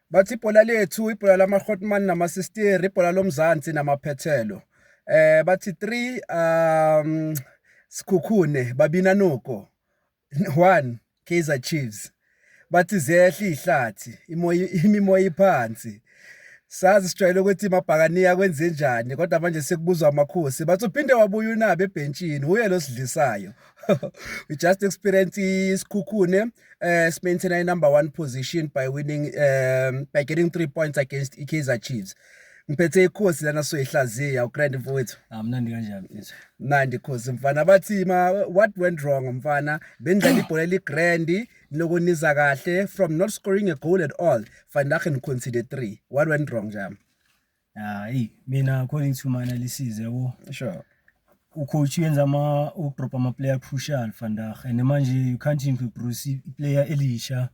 Bathi ibhola lethu ibhola lama-hotman namasisteri ibhola lomzansi namaphethelo eh bathi 3 um sikhukhune babina noko 1 Kaizer Chiefs bathi zehla ihlathi imoya imimoya iphansi sazi sijwayele ukuthi mabhakaniya kwenze njani kodwa manje sekubuzwa amakhosi bathi uphinde wabuya unabe ebhentshini uye losidlisayo we just experience isikhukhune uh, simaintaina i-number one position by winning um, by getting three points against ikaizer chiefs ngiphethe ikhosi lana soyihlaziya ugrand mfowethu amnandi ah, kanjani mfethu mnandi khosi mfana bathi ma what went wrong mfana bendlala ibhola eligrandi nokuniza kahle from not scoring a goal at all fandachen concede three what went wrong jam Hayi mina according to my analysis yabo. Sure. ucoach yenza ama udrop ama player crucial vandag and manje you can't introduce iplayer elisha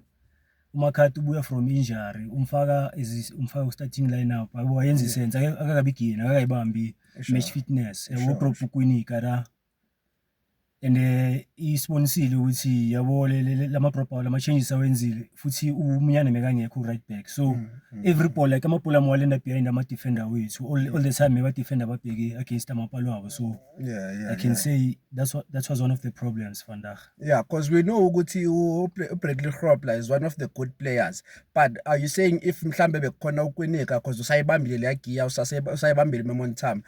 umakhathi ubuya from injury umfaka is umfaka ku starting lineup yabo wayenza isense akakabigini akakayibambi match fitness yabo drop uKwinika la and eh, isibonisile ukuthi yabo lama drop out lama changes awenzile futhi umunyane mekangekho right back so mm, mm, every mm. ball like amabhola amwalenda behind ama defender wethu all, all the time meba defender babheke against amapalo abo so yeah, yeah, i can yeah. say that's what that was one of the problems vandag yeah because we know ukuthi ubradley hropla is one of the good players but are you saying if mhlambe bekukhona ukwinika because usayibambile leya giya usayibambile memontime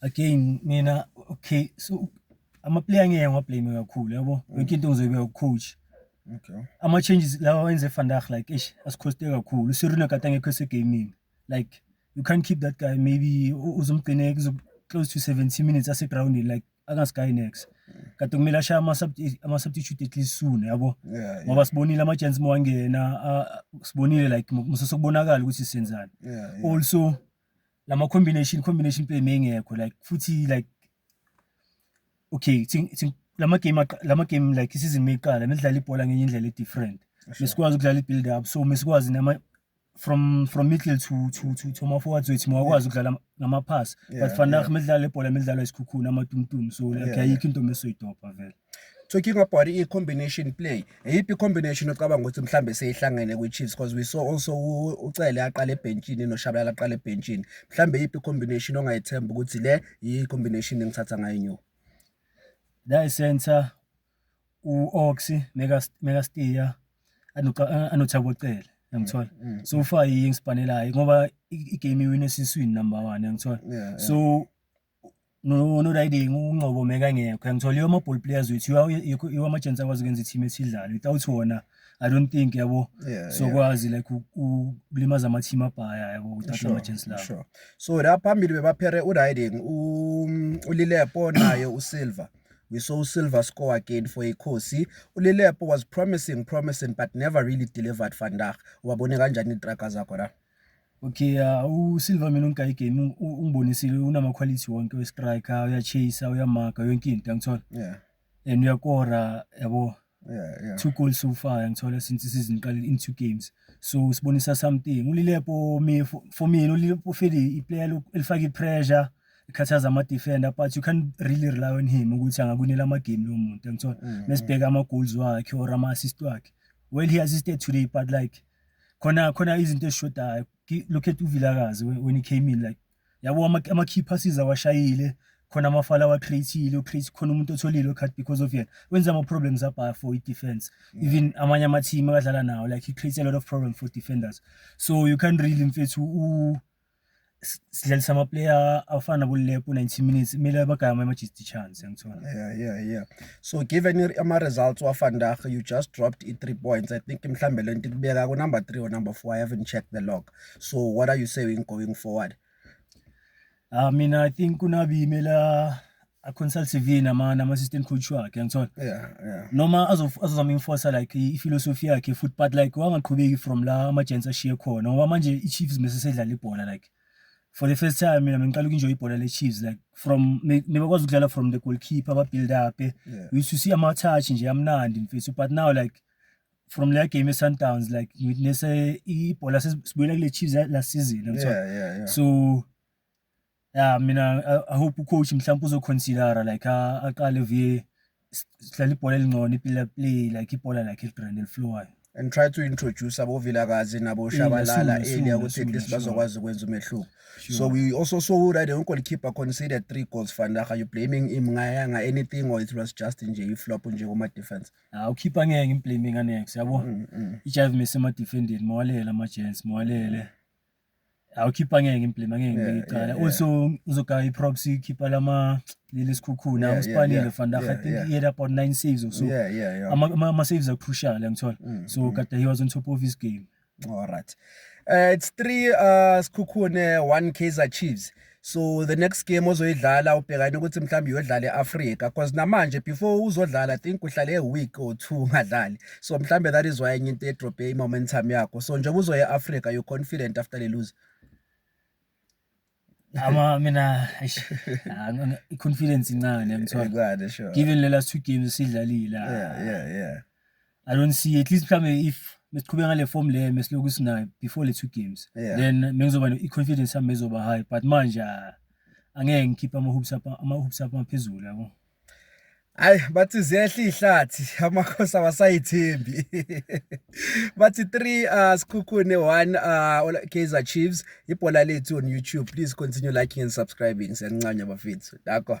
again mina okay so amaplayer ngeke ngiwablame kakhulu yabo mm. yonke into ngizoyibe ucoach okay ama-changes lawa wenze efandag like ish asikhoste kakhulu usirune kade angekho esegaming like you can't keep that guy maybe uzomgcine close to 70 minutes asegroundini like angasikayi next kade kumele ashaya ama-substitute at least soon yabo ngoba sibonile ama-chance mowangena sibonile like musesokubonakala ukuthi senzani also yeah. lama combination combination play mengekho like futhi like okay lama game lama game like isizini meyiqala nidlala ibhola ngenye indlela e-different mesikwazi ukudlala i-build up so mesikwazi nama from from middle to to to to ama-forwards wethu mawakwazi ukudlala ngama-pass but fanach medlala ibhola medlalwa isikhukhuni amatumtum so like ayikho into mesoyidobha vele Talking about i-combination play, iyiphi i-combination ocabanga ukuthi mhlawumbe seyihlangene kwi-Chiefs because we saw also uCele aqala ebhentshini noShabalala aqala ebhentshini. Mhlawumbe iyiphi i-combination ongayethemba ukuthi le yi-combination engithatha ngayo inyoka? La yi-center u-Ox mekastiya anothabo Cele yangithola mm, mm, so mm. ufa yingisibhanelayo ngoba i-game iwine esiswini number one yangithola so no-Riding uNgcobo mekangekho ngithole ama-ball players wethu iwo ama-chance akwazi ukwenza i-team ethi idlale without wona I don't think yabo sokwazi like ukulimaza ama-team abhaya yabo without ama-chance lawo sure so la phambili bebaphere u-Riding uLilepo naye uSilver we saw Silver score again for iKhosi. ULilepo was promising, promising but never really delivered vandag. Wabone kanjani itraga zakho la? Okay, uh, uSilva mina uNkayi Game ungibonisile unama quality wonke we striker, uyachase, uyamaka yonke into ngithola. Yeah. And uyakora yabo. Yeah, yeah. Two goals so far ngithola since season iqale in two games. So usibonisa something. Ulilepo me for, for me ulilepo feli iplayer elifaka ipressure ikhathaza ama defender but you can really rely on him ukuthi angakunela ama game lo muntu ngithola. Mm, Mesibheka mm. ama goals wakhe or ama assist wakhe. Well he assisted today but like khona khona izinto ezishodayo look at uVilakazi when he came in like yabo ama key passes awashayile khona amafala wa createile o create khona umuntu otholile card because of yena wenza ama problems abhaya for i defense yeah. even amanye ama team akadlala nawo like he creates a lot of problem for defenders so you can't really mfethu u sidlalisa amaplayer afana kulepo 90 minutes kumele abagame ama-just chance angithola yeah yeah yeah so given ama-results wafandag you just dropped i-three points i think mhlawumbe le nto ikubeka ku-number three or number four i haven't checked the log so what are you saying going forward uh, mina i think kunabi imela a consultive nama nama assistant coach wakhe ngithola yeah yeah noma azozama enforce like i philosophy yakhe futhi but like wangaqhubeki from la ama gents ashiye khona ngoba manje i Chiefs mase sedlala ibhola like for the first time mina ngiqala ukunjoy ibhola le Chiefs like from nebakwazi ukudlala from the goalkeeper aba build up eh. yeah. we used to see ama touch nje amnandi mfethu but now like from la game eSundowns like ngitnese ibhola sibuyela kule Chiefs la season ngithola yeah, yeah, yeah. so ya mina i hope ucoach mhlawumbe uzoconsidera like aqale vie sidlala ibhola elingcono ipila play like ibhola lakhe eligrand eliflowayo and try to introduce abovilakazi naboshabalala earlier ukuthi at least bazokwazi ukwenza umehluko so we also saw that the goalkeeper conceded three goals van der you blaming him ngayanga anything or it was just nje iflop nje kuma defense ah ukhipha ngeke imblaming anex yabo mm, mm. ijive mese ma defending mawalele ama gents mawalele mm. awukhipha ngeke implema ngeke ngibeke icala also uzogaya i-props ikhipha lama leli sikhukhuna usipanile vandag i think he had about nine saves or so ama-saves akrucial angithola mm, so mm. kade he was on top of his game all right uh, it's three uh, sikhukhune one kaizer chiefs uh, so the next game ozoyidlala ubhekane ukuthi mhlawumbe uyodlala e-afrika because namanje before uzodlala i think uhlale e-week or two ungadlali so mhlawumbe that is why enye into edrobhe i-momentum yakho so njengoba uzoya e-afrika you're confident after le lose ama mina i-confidence incane ngithola given le last two games sidlalile yeah, yeah, yeah. I don't see at least mhlambe if mesiqhubeka ngale form le mesilokhu sinayo before le two games yeah. then mengizoba i confidence yami mezoba high but manje ah, angeke ngikhiphe ama hoops up ama hoops up aphezulu yabo Hayi bathi ziyehla ihlathi amakhosi awasayithembi. Bathi 3 uh sikhukhune 1 uh Kaizer Chiefs ibhola lethu on YouTube please continue liking and subscribing siyancanya bafethu. Dakho.